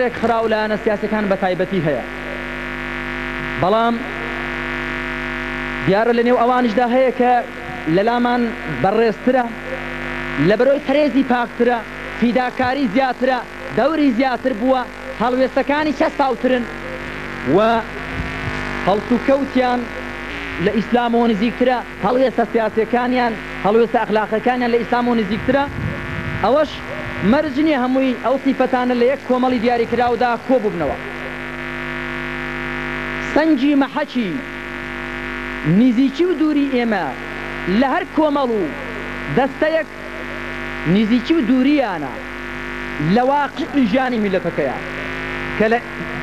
ڕێکخراو و لایەنە سیاسیەکان بە تایبەتی هەیە، بەڵام دیارە لە نێو ئەوانیشدا هەیە کە لەلامان بەڕێزترە، لە بەرۆی پەرێزی پاکترە، فیداکاری زیاترە، دەوری زیاتر بووە، هەڵوێستەکانی چەسپاوترن و هەڵسوکەوتیان لە ئیسلامەوە نزیکترە. هەڵوێستە سیاسیەکانیان هەڵوێستە ئەخلاقیەکانیان لە ئیسلامەوە نزیکترە، ئەوەش مەرج نیە هەمووی ئەو سیفەتانە لە یەک کۆمەڵی دیاریکراودا کۆببنەوە. سەنگی مەحەکی نزیکی و دووری ئێمە لە هەر کۆمەڵ و دەستەیەک نزیکی و دوورییانە لە واقیعی ژیانی میللەتەکەیان کە لە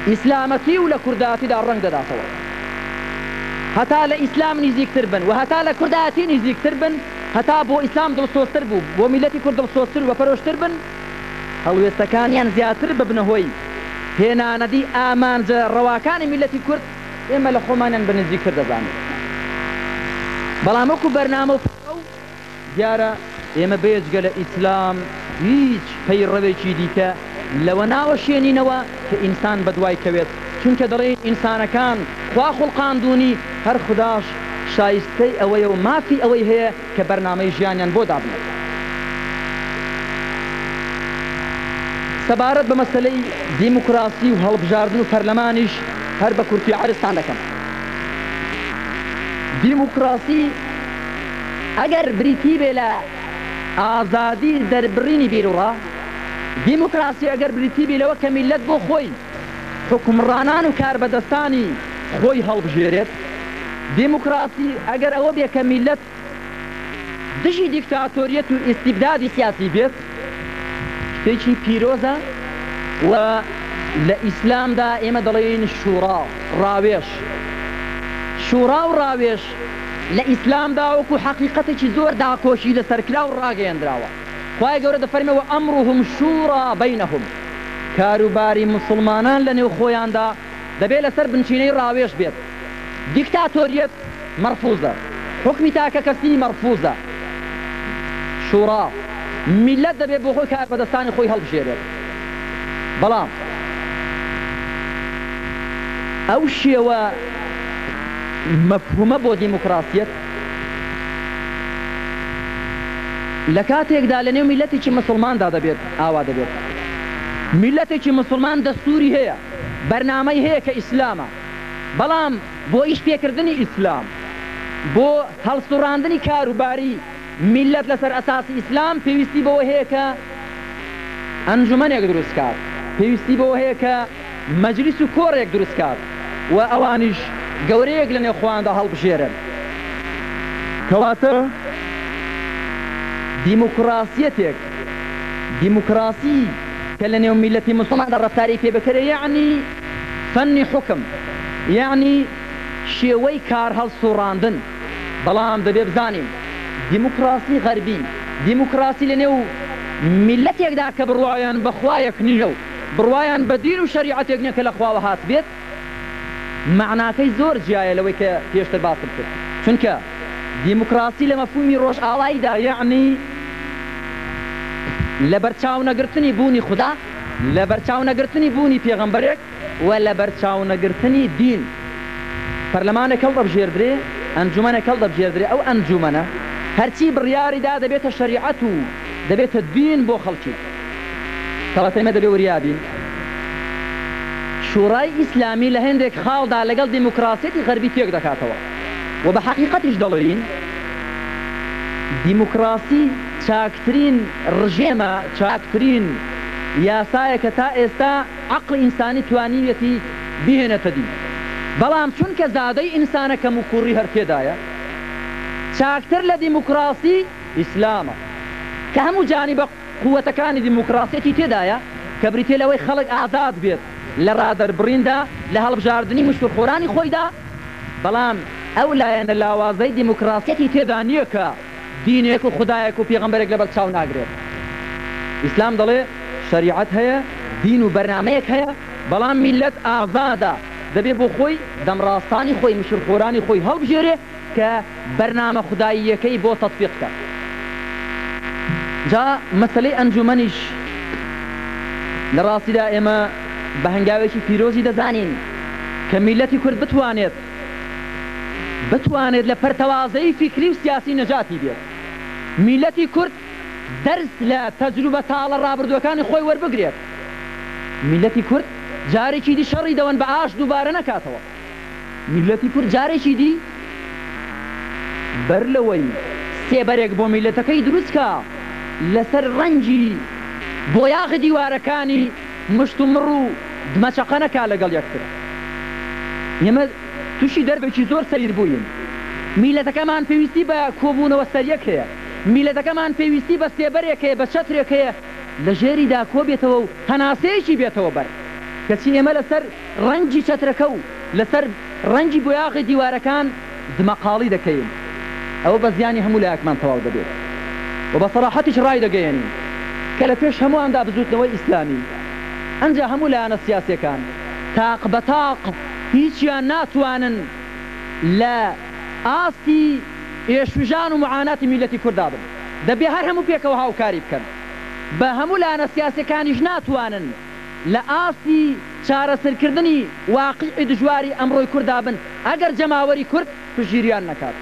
ئیسلامەتی و لە کوردایەتیدا ڕەنگ دەداتەوە. هەتا لە ئیسلام نزیکتر بن و هەتا لە کوردایەتی نزیکتر بن، هەتا بۆ ئیسلام دڵسۆزتر بوو، بۆ میللەتی کورد دڵسۆزتر و بەپەرۆشتر بن، هەڵوێستەکانیان زیاتر ببنە هۆی هێنانەدی ئامانجە ڕەواکانی میللەتی کورد، ئێمە لە خۆمانیان بە نزیکتر دەزانین. بەڵام وەکو بەرنامە و پرۆگرام، دیارە ئێمە بێجگە لە ئیسلام هیچ پەیڕەوێکی دیکە لەوە ناوەشێنینەوە کە ئینسان بەدوای کەوێت، چونکە دەڵێین ئینسانەکان خوا خوڵقاندوونی، هەر خوداش شایستەی ئەوەیە و مافی ئەوەی هەیە کە بەرنامەی ژیانیان بۆ دابنێت. سەبارەت بە مەسەلەی دیموکراسی و هەڵبژاردن و پەرلەمانیش هەر بە کورتی عەرزتان دەکەم. دیموکراسی. ئەگەر بریتی بێ لە ئازادی دەربڕینی بیروڕا، دیموکراسی ئەگەر بریتی بی لەوە کە میللەت بۆ خۆی، حوکمڕانان و کاربەدەستانی خۆی هەڵبژێرێت، دیموکراسی ئەگەر ئەوە بێ کە میللەت دژی دیکتاتۆریەت و ئیستیبدادی سیاسی بێت، شتێکی پیرۆزە و لە ئیسلامدا ئێمە دەڵێین شوڕا، ڕاوێژ. شوڕا و ڕاوێژ لە ئیسلامدا وەکو حەقیقەتێکی زۆر داکۆکی لەسەرکراو و ڕاگەیەندراوە، خوای گەورە دەفەرمێ، وامرهم شوری بینهم، کاروباری موسڵمانان لەنێو خۆیاندا دەبێ لەسەر بنچینەی ڕاوێژ بێت، دیکتاتۆریەت مەرفوزە، حوکمی تاکەکەسی مەرفوزە، شورا، میللەت دەبێ بۆخۆی کاربەدەستانی خۆی هەڵبژێرێت. بەڵام ئەو شێوە مەفهومە بۆ دیموکراسیەت لە کاتێکدا لە نێو میلەتێکی مسوڵماندا دەبێت ئاوا دەبێت میلەتێکی مسوڵمان دەستوری هەیە بەرنامەی هەیە کە ئیسلامە بەڵام بۆ ئیش پێکردنی ئیسلام بۆ هەڵسوڕاندنی کاروباری میللەت لەسەر ئەساسی ئیسلام پێویستی بەوە هەیە کە ئەنجومەنێک دروست کات، پێویستی بەوە هەیە کە مەجلیس و کۆڕێک دروست کات و ئەوانیش گەورەیەک لەنێو خۆیاندا هەڵبژێرن. کەواتە دیموکراسیەتێک، دیموکراسی کە لەنێو میللەتی موسڵماندا ڕەفتاری پێ بکەرێ یەعنی فەنی حوکم، یەعنی شێوەی کارهەڵسوڕاندن. بەڵام دەبێ بزانین دیموکراسی غەربی دیموکراسی لە نێو میللەتێکدا کە بڕوایان بە خوایەک نییە و بڕوایان بە دین و شەریعەتێک نییە کە لە خواوە هاتبێت مەعناکەی زۆر جیایە لەوەی کە پێشتر باسم کرد چونکە دیموکراسی لە مەفهومی ڕۆژئاواییدا یەعنی لەبەرچاونەگرتنی بوونی خودا، لەبەرچاونەگرتنی بوونی پێغەمبەرێک، و لەبەرچاونەگرتنی دین پەرلەمانێک هەڵدەبژێردرێ، ئەنجومەنێک هەڵدەبژێردرێ، ئەو ئەنجومەنە هەرچی بڕیاری دا دەبێتە شەریعەت و دەبێتە دین بۆ خەڵکی. کەواتە ئێمە دەبێ وریا بین شوڕای ئیسلامی لە هێندێک خاڵدا لەگەڵ دیموکراسیەتی غەربی تێک دەکاتەوە و بە حەقیقەتیش دەڵێین دیموکراسی چاکترین ڕژێمە، چاکترین یاسایە کە تا ئێستا عەقڵی ئینسانی توانیویەتی بیهێنێتە دی، بەڵام چونکە زادەی ئینسانە کەموکووڕی هەر تێدایە، چاکتر لە دیموکراسی ئیسلامە، کە هەموو جانیبە قووەتەکانی دیموکراسیەتی تێدایە، کە بریتیە لەوەی خەڵک ئازاد بێت لە ڕادەربڕیندا لە هەڵبژاردنی مشتومخۆرانی خۆیدا، بەڵام ئەو لایەنە لاوازەی دیموکراسیەتی تێدا نییە کە. دینێک و خودایەک و پێغەمبەرێک لەبەر چاو ناگرێت ئیسلام دەڵێ شەریعەت هەیە دین و بەرنامەیەک هەیە بەڵام میللەت ئازادە دەبێ بۆ خۆی دەمڕاستانی خۆی مشر خۆرانی خۆی هەڵبژێرێ کە بەرنامە خوداییەکەی بۆ تەتبیق کا جا مەسەلەی ئەنجومەنیش لە ڕاستیدا ئێمە بە هەنگاوێکی پیرۆزی دەزانین کە میللەتی کورد بتوانێت بتوانێت لە پەرتەوازەیی فیکری و سیاسی نەجاتی بێت. میللەتی کورد دەرس لە تەجروبە تاڵە ڕابردووەکانی خۆی وەربگرێت. میللەتی کورد جارێکی دی شەڕی دەوەن بە ئاش دووبارە نەکاتەوە. میللەتی کورد جارێکی دی بەر لەوەی سێبەرێک بۆ میللەتەکەی دروست کا لەسەر ڕەنگی بۆیاغی دیوارەکانی، مشتومڕ و دمەچەقە نەکا لەگەڵ یەکتر. ئێمە تووشی دەربێکی زۆر سەیر بووین. میللەتەکەمان پێویستی بە کۆبوونەوە سەریەک هەیە. میللەتەکەمان پێویستی بە سێبەرێک هەیە، بە چەترێک هەیە لە ژێریدا کۆبێتەوە و هەناسەیەکی بێتەوە بەر. کەچی ئێمە لەسەر ڕەنگی چەترەکە و لەسەر ڕەنگی بۆیاغی دیوارەکان، دمەقاڵی دەکەین، ئەوە بە زیانی هەموو لایەکمان تەواو دەبێت و بە سەراحەتیش ڕایدەگەیەنین کە لە پێش هەموواندا بزووتنەوەی ئیسلامی، ئەنجا هەموو لایەنە سیاسییەکان تاق بە تاق هیچیان ناتوانن لە ئاستی ئێشوژان و معاناتی میللەتی کورددا بن، دەبێت هەر هەموو پێکەوە هاوکاری بکەن، بە هەموو لایەنە سیاسییەکانیش ناتوانن. لە ئاستی چارەسرکردنی واقیعی دژواری ئەمڕۆی کوردا بن ئەگەر جەماوەری کورد پشتگیریان نەکات.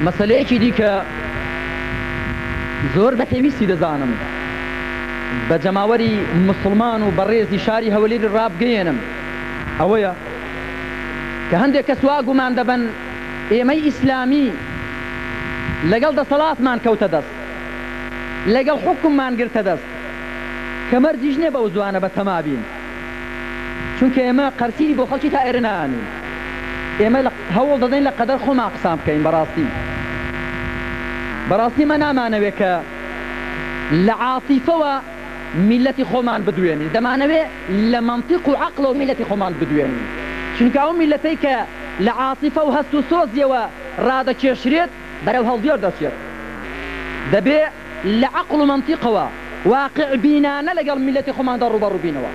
مەسەلەیەکی دیکە زۆر بە پێویستی دەزانم بە جەماوەری موسڵمان و بەڕێزی شاری هەولێری ڕابگەیەنم ئەوەیە کە هەندێک کەس وا گومان دەبەن ئێمەی ئیسلامی لەگەڵ دەسەڵاتمان کەوتە دەست لەگەڵ حوکممان گرتە دەست کە مەرجیش نیە بەو زوانە بە تەما بین. چونکە ئێمە قەرسینی بۆ خەڵکی تا ئێرە نانین ئێمە لە هەوڵ دەدەین لە قەدەر خۆمان قسان بکەین بەڕاستی بەڕاستی مە نامانەوێ کە لە عاتیفەوە میلەتی خۆمان بدوێنین دەمانەوێ لە مەنتیق و عەقڵەوە میلەتی خۆمان بدوێنین چونکە ئەو میلەتەی کە لە عاتیفە و هەست و سۆزیەوە ڕادەکێشرێت بەرەو هەڵدێر دەچێت دەبێ لە عەقڵ و مەنتیقەوە واقیع بینانە لەگەڵ میللەتی خۆماندا ڕووبەڕوو بینەوە.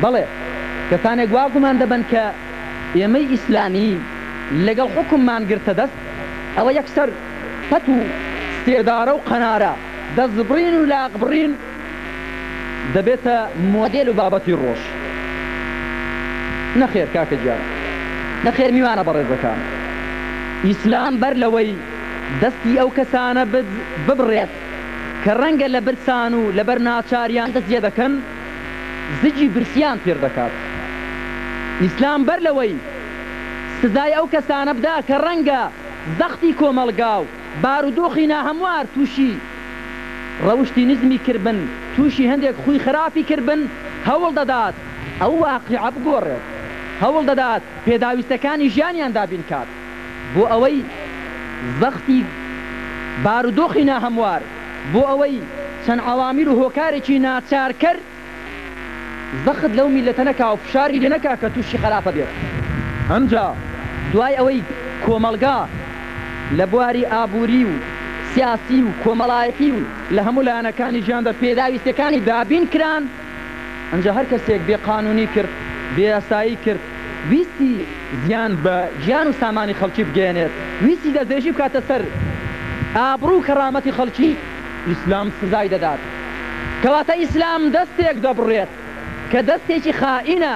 بەڵێ کەسانێک وا گومان دەبەن کە ئێمەی ئیسلامی لەگەڵ حوکممان گرتە دەست، ئەوە یەکسەر پەت و سێدارە و قەنارە، دەستبڕین و لاقبڕین دەبێتە مۆدێل و بابەتی ڕۆژ. نەخێر کاکە گیان. نەخێر میوانە بەڕێزەکان. ئیسلام بەر لەوەی. دەستی ئەو کەسانە ببڕێت کە ڕەنگە لە برسان و لەبەر ناچاریان دەست جێدەکەن زگی برسیان پیر دەکات ئیسلام بەر لەوەی سزای ئەو کەسانە بدا کە ڕەنگە زەختی کۆمەڵگا و بارودۆخی ناهەموار توشی ڕەوشتی نزمی کربن توشی هەندێک خوی خراپی کربن هەوڵ دەدات ئەو واقیعە بگۆڕێت هەوڵ دەدات پێداویستەکانی ژیانیان دابین کات. بۆ ئەوەی زەختی بارودۆخی ناهەموار، بۆ ئەوەی چەند عەوامل و هۆکارێکی ناچارکەر زەخت لەو میللەتە نەکا و فشاری لێ نەکا کە تووشی خەراپە بێت. ئەمجا دوای ئەوەی کۆمەڵگا لە بواری ئابووری و سیاسی و کۆمەڵایەتی و لە هەموو لایەنەکانی ژیاندا پێداویستییەکانی دابین کران، ئەنجا هەر کەسێک بێ قانونی کرد، بێ یاسایی کرد، ویستی زیان بە گیان و سامانی خەڵکی بگەیەنێت، ویستی دەستدرێژی بکاتە سەر ئابڕو و کەرامەتی خەڵکی، ئیسلام سزای دەدات. کەواتە ئیسلام دەستێک دەبڕێت کە دەستێکی خائینە.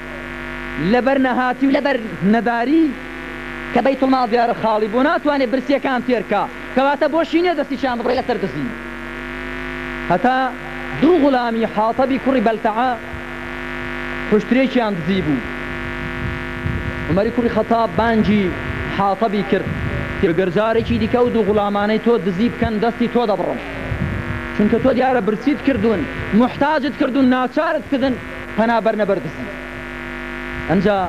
لەبەر نەهاتی و لەبەر نەداری کە بەیتوڵماڵ دیارە خاڵی بۆ ناتوانێ برسیەکان تێر کا کەواتە بۆشی نیە دەستیشیان ببڕێ لەسەر دزی هەتا دوو غولامی حاطەبی کوڕی بەلتەعە حوشترێکیان دزی بوو عمەری کوڕی خەتاب بانگی حاطەبی کرد گەر جارێکی دیکە ئەو دوو غولامانەی تۆ دزی بکەن دەستی تۆ دەبڕم چونکە تۆ دیارە برسیت کردوون موحتاجت کردوون ناچارت کردن پەنا بەرنە بەر دزی. ئنجا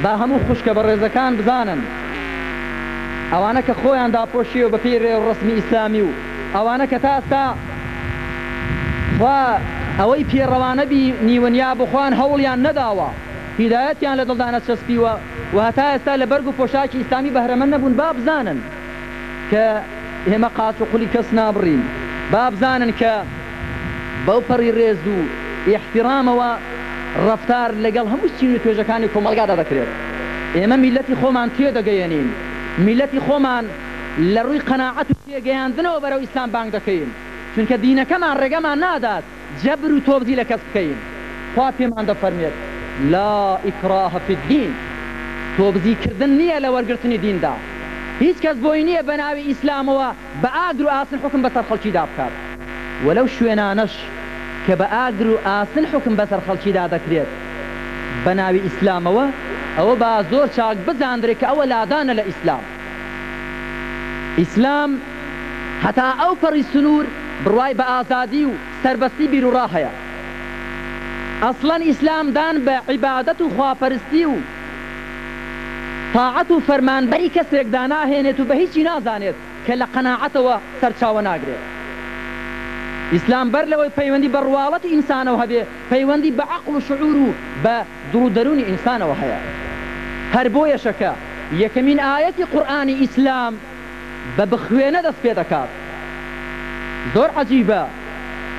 با هەموو خوشکە بەڕێزەکان بزانن ئەوانە کە خۆیان داپۆشیەوە بە پێی رێوڕەسمی ئیسلامی و ئەوانە کە تا ئستا خوا ئەوەی پێ ڕەوا نەبی نیون یا بۆ خۆیان هەوڵیان نەداوە هیدایەتیان لە دڵدا نەچەسپیوە و هەتا ئێستا لە بەرگ و پۆشاکی ئیسلامی بەهرەمەند نەبوون با بزانن کە ئێمە قاچ و قولی کەس نابڕین با بزانن کە بەوپەڕی ڕێز و ئیحتیڕامەوە ڕەفتار لەگەڵ هەموو چین و توێژەکانی کۆمەڵگادا دەکرێت. ئێمە میللەتی خۆمان تێدەگەیەنین، میللەتی خۆمان لە ڕووی قەناعەت و پێگەیاندنەوە بەرەو ئیسلام بانگ دەکەین، چونکە دینەکەمان ڕێگەمان نادات جەبر و تۆبزی لە کەس بکەین. خوا پێمان دەفەرمێت، لا اکراه فی الدین، تۆبزیکردن نییە لە وەرگرتنی دیندا، هیچ کەس بۆی نییە بەناوی ئیسلامەوە بە ئاگر و ئاسن حوکم بەسەر خەڵکیدا بکات و لەو شوێنانەش کە بە ئاگر و ئاسن حوکم بەسەر خەڵکیدا دەکرێت بە ناوی ئیسلامەوە، ئەوە با زۆر چاک بزاندرێت کە ئەوە لادانە لە ئیسلام. ئیسلام هەتا ئەو پەڕی سنوور بڕوای بە ئازادی و سەربەستی بیروڕا هەیە. ئەسڵەن ئیسلام دان بە عیبادەت و خواپەرستی و تاعەت و فەرمانبەری کەسێک داناهێنێت و بە هیچی نازانێت کە لە قەناعەتەوە سەرچاوە ناگرێت. ئیسلام بەر لەوەی پەیوەندی بە ڕواڵەتی ئینسانەوە هەبێ، پەیوەندی بە عەقڵ و شعور و بە دڵ و دەروونی ئینسانەوە هەیە. هەر بۆیەشە کە یەکەمین ئایەتی قورئانی ئیسلام، بە بخوێنە دەست پێ دەکات زۆر عەجیبە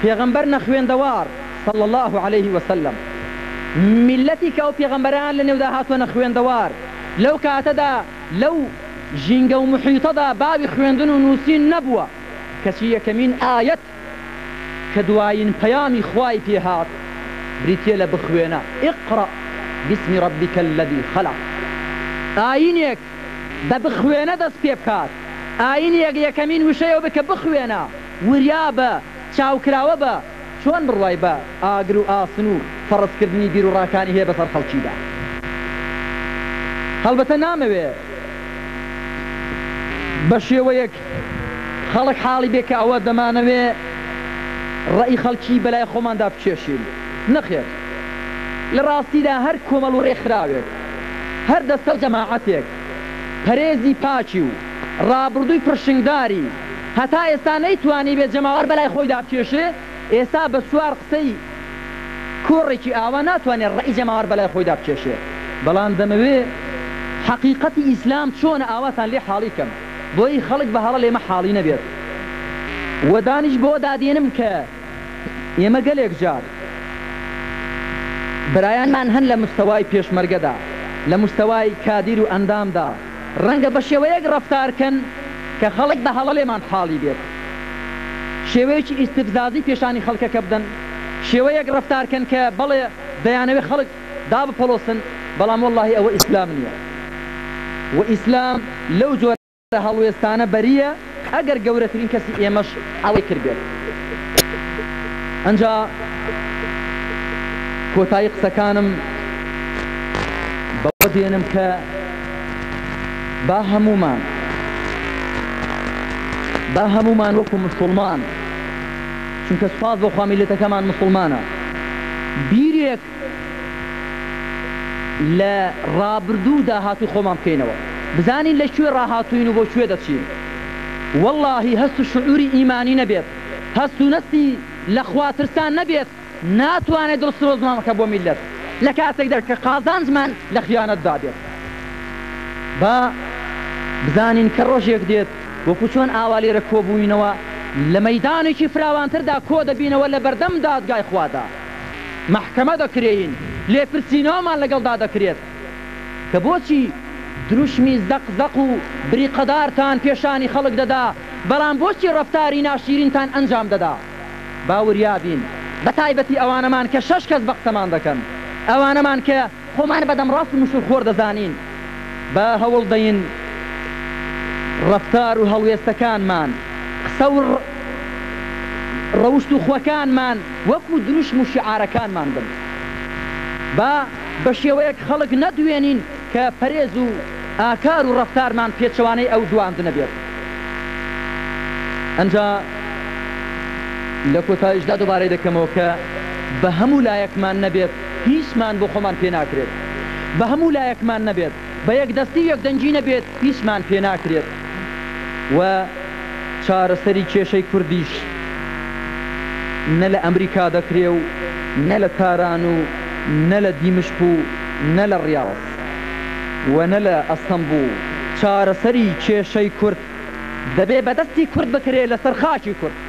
پێغەمبەر نەخوێندەوار صلی اللە علیە وسلم میللەتی کە ئەو پێغەمبەرەیان لە نێودا هاتوە نەخوێندەوار لەو کاتەدا لەو ژینگە و محیتەدا باوی خوێندن و نووسین نەبووە کەچی یەکەمین ئایەت کە دوایین پەیامی خوای پێ هات بریتییە لە بخوێنە، اقرا بسم ربک الذی خلق. ئایینێک بە بخوێنە دەست پێ بکات، ئایینێک یەکەمین وشەی ئەوەبێت کە بخوێنە، وریا بە، چاوکراوە بە، چۆن بڕوای بە ئاگر و ئاسن و فەڕزکردنی بیروڕاکانی هەیە بەسەر خەڵکیدا؟ هەڵبەتە نامەوێت بە شێوەیەک خەڵک حاڵی بێ کە ئەوە دەمانەوێ ڕەئی خەڵکی بەلای خۆماندا بکێشین. نەخێر. لە ڕاستیدا هەر کۆمەڵ و ڕێکخراوێک، هەر دەستە و جەماعەتێک پەرێزی پاکی و ڕابڕدووی پڕشنگداری هەتا ئێستا نەیتوانیبێ جەماوەر بەلای خۆیدا بکێشێ، ئێستا بە چوار قسەی کۆڕێکی ئاوا ناتوانێ ڕەئی جەماوەر بەلای خۆیدا بکێشێ. بەڵام دەمەوێ حەقیقەتی ئیسلام چۆنە ئاواتان لێ حاڵی کەم. بۆی خەڵک بە هەڵە لێمە حاڵی نەبێت و دانیش بەوە دادێنم کە ئێمە گەلێک جار برایانمان هەن لە مستەوای پێشمەرگەدا لە مستەوای کادیر و ئەندامدا ڕەنگە بە شێوەیەک ڕەفتار کەن کە خەڵک بە هەڵە لێمان حاڵی بێت شێوەیەکی ئیستفزازی پێشانی خەڵکەکە بدەن شێوەیەک ڕەفتار کەن کە بەڵێ دەیانەوێت خەڵک دابپەڵۆسن بەڵام وەڵاهی ئەوە ئیسلام نیە و ئیسلام لەو جۆرە هەڵوێستانە بەریە ئەگەر گەورەترین کەسی ئێمەش ئەوەی کردبێت ئەنجا کۆتایی قسەکانم بەوە دێنم کە با هەمومان با هەمومان وەکو مسلمان چونکە سوپاس بۆ خوا میلەتەکەمان مسلمانە بیرێک لە ڕابردوو و داهاتووی خۆمان بکەینەوە بزانین لە کوێ ڕاهاتووین و بۆ کوێ دەچین وەڵاهی هەست و شعوری ئیمانی نەبێت هەست و نەستی لە خوا ترسان نەبێت ناتوانێت دڵ سرۆزمان بکە بۆ میللەت لە کاتێکدا کە قازانجمان لە خیانەت دا بێت با بزانین کە ڕۆژێک دێت وەکو چۆن ئاوا لێرە کۆبووینەوە لە مەیدانێکی فراوانتردا کۆ دەبینەوە لە بەردەم دادگای خوادا. مەحکەمە دەکرێین، لێپرسینەوەمان لەگەڵدا دەکرێت کە بۆچی دروشمی زەق زەق و بریقەدارتان پێشانی خەڵک دەدا، بەڵام بۆچی ڕەفتاری ناشیرینتان ئەنجام دەدا؟ با وریابین، بەتایبەتی ئەوانەمان کە شەش کەس بەقسەمان دەکەن، ئەوانەمان کە. خۆمان بە دەمڕاست و مشووڕخۆر دەزانین، با هەوڵ دەین ڕەفتار و هەڵوێستەکانمان، قسە و ڕەوشت و خوەکانمان وەکوو دروشم و شیعارەکانمان بن. با بە شێوەیەک خەڵک نەدوێنین کە پەرێز و ئاکار و ڕەفتارمان پێچەوانەی ئەو دواندنە بێت. ئنجا لە کۆتاییشدا دووبارەی دەکەمەوە کە بە هەموو لایەکمان نەبێت، هیچمان بۆ خۆمان پێ ناکرێت بە هەموو لایەکمان نەبێت، بە یەکدەستی و یەکدەنگی نەبێت هیچمان پێ ناکرێت و چارەسەری کێشەی کوردیش نە لە ئەمریکا دەکرێ و نە لە تاران و نە لە دیمشق و نە لە ڕیاز و نە لە ئەستەنبوڵ، چارەسەری کێشەی کورد دەبێ بە دەستی کورد بکرێ لە سەر خاکی کورد.